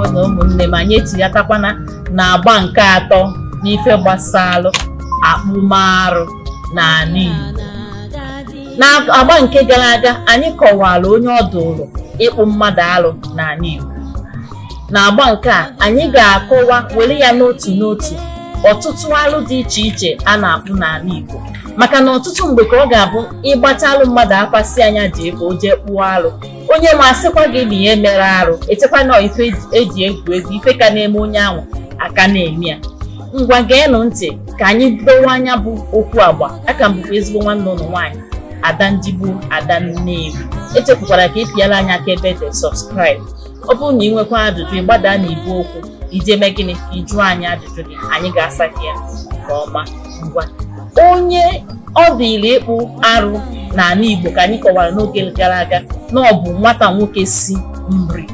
ngwanụ ụmụnne m anyị etinyekakwana na agba nke atọ n'ife gbasalụ akpụmarụ n'ana Igbo na agba nke gara aga anyị kọwara onye ọ dụrụ ịkpụ mmadụ alụ n'ana Igbo N'agba nke a, anyị ga-akọwa were ya n'otu n'otu ọtụtụ alụ dị iche iche a na-akpụ n'ala Igbo maka na ọtụtụ mgbe ka ọ ga-abụ ị gbachaalụ mmadụ afa sị nya jee ka o jee kpụọ alụ onye nwa asịkwa gị na ihe mere arụ echekwa na ife eji egwu egwu ife ka na-eme onye ahụ aka na-eme ya ngwa geenụ ntị ka anyị dọwaa nya bụ okwu agba aka m bụkwa ezigbo nwanne ụnụ nwaanyị ada ndigbo ada Nnewi echefukwala ka ị pịala anyị aka ebe dị subscribe ọ bụrụ na ị nwekwa ajụjụ ị gbada na igbe okwu i jee mee gịnị ka ị jụọ anyị ajụjụ gị anyị ga-asa gị ya nke ọma ngwa onye ọ dịrị ịkpụ arụ n'ana Igbo ka anyị kọwara n'oge gara aga na ọ bụ nwata nwoke si Nri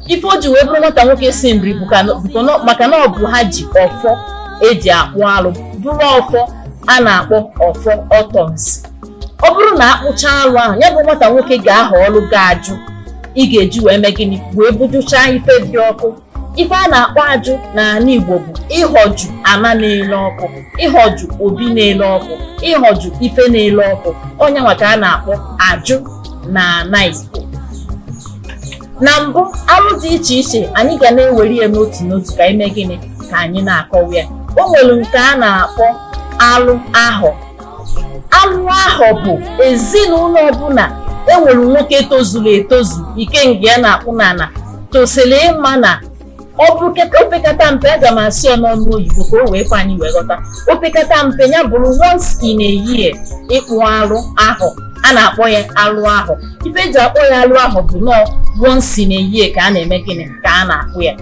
ife o ji wee bụrụ nwata nwoke si Nri bụ ka- bụ na- maka na ọ bụ ha ji ọfọ eji akpụ alụ bụrụ ọfọ a na-akpọ ọfọ ọtọnsị ọ bụrụ na akpụcha alụ ahụ ya bụ nwata nwoke ga-ahọlụ gị ajụ ị ga-eji wee mee gịnị wee bujuchaa ife dị ọkụ ife a na-akpọ ajụ n'ana Igbo bụ ịhọjụ ana na-ele ọkụ ịhọjụ obi na-ele ọkụ ịhọjụ ife na-ele ọkụ ọ nya nwa ka a na-akpọ ajụ na ana Igbo na mbụ arụ dị iche iche anyị ga na-ewere ya n'otu n'otu ka e mee gịnị ka anyị na-akọwa ya o nwere nke a na-akpọ alụ ahọ alụ ahọ bụ ezinụlọ ọbụla enwere nwoke tozuru etozu ikenga ya na-akpụ n'ala tosiri ịma na ọ bụrụ keta opekata mpe aga m asị ya n'ọnụ oyibo ka o wee kwe anyị wee ghọta opekata mpe ya bụrụ once in a year ịkpụ arụ ahọ a na-akpọ ya alụ ahọ ife eji akpọ ya alụ ahọ bụ na ọ once in a year ka a na-eme gịnị ka a na-akpụ ya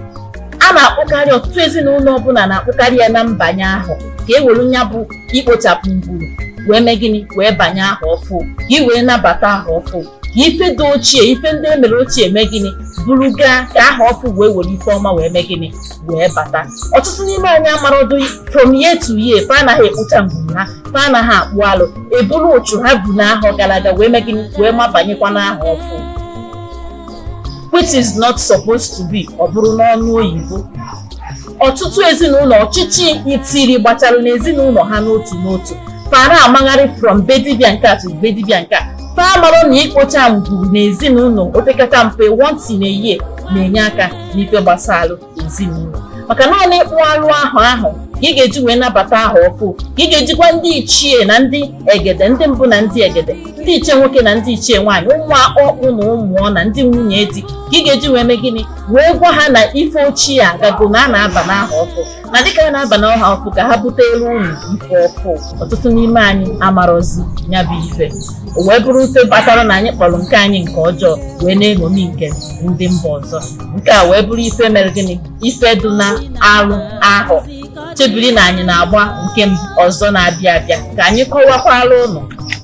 a na-akpụkarị ọtụtụ ezinụlọ ọbụla na-akpụkarị ya na mbanye ahọ ka e were ya bụ ikpochapụ ngwuru wee mee gịnị wee banye ahọ ọfụ ka ị wee nabata ahọ ọfụ ka ife dị ochie ife ndị emere ochie mee gịnị buru gaa ka ahọ ọfụ wee were ife ọma wee mee gịnị wee bata ọtụtụ n'ime anyị amarọdụ from year to year fa anaghị ekpocha ngwuru ha fa anaghị akpụ alụ eburu uchu ha bu n'ahọ gara aga wee mee gịnị wee mabanyekwa n'ahọ ọfụ which is not supposed to be ọ bụrụ n'ọnụ oyibo ọtụtụ ezinụlọ ọchịchị itiri gbachara n'ezinụlọ ha n'otu n'otu fa na-amagharị from be dibia nke a to be dibia nke a fa amarọ na ikpocha ngwuru n'ezinụlọ opekata mpe once in a year na-enye aka n'ife gbasalụ ezinụlọ maka naanị ịkpụ alụ ahọ ahụ ka ị ga-eji wee nabata ahọ ọfụ ka ị ga-ejikwa ndị ichie na ndị egede ndị mbụ na ndị egede ndị ichie nwoke na ndị ichie nwaanyị ụmụ ọkpụ na ụmụọ na ndị nwunye di ka ị ga-eji wee mee gịnị wee gwa ha na ife ochie agago na a na-aba n'ahọ ọfụ na dịka a na-aba n'ahọ ọfụ ka ha butelụ unu ife ọfụ ọtụtụ n'ime anyị amarọzi ya bụ ife o wee bụrụ ife kpatara na anyị kpọrọ nke anyị nke ọjọọ wee na-eṅomi nke ndị mba ọzọ nke a wee bụrụ ife mere gịnị ife dị na arụ ahọ chebiri na anyị na-agba nke ọzọ na-abịa abịa ka anyị kọwakwara ụnụ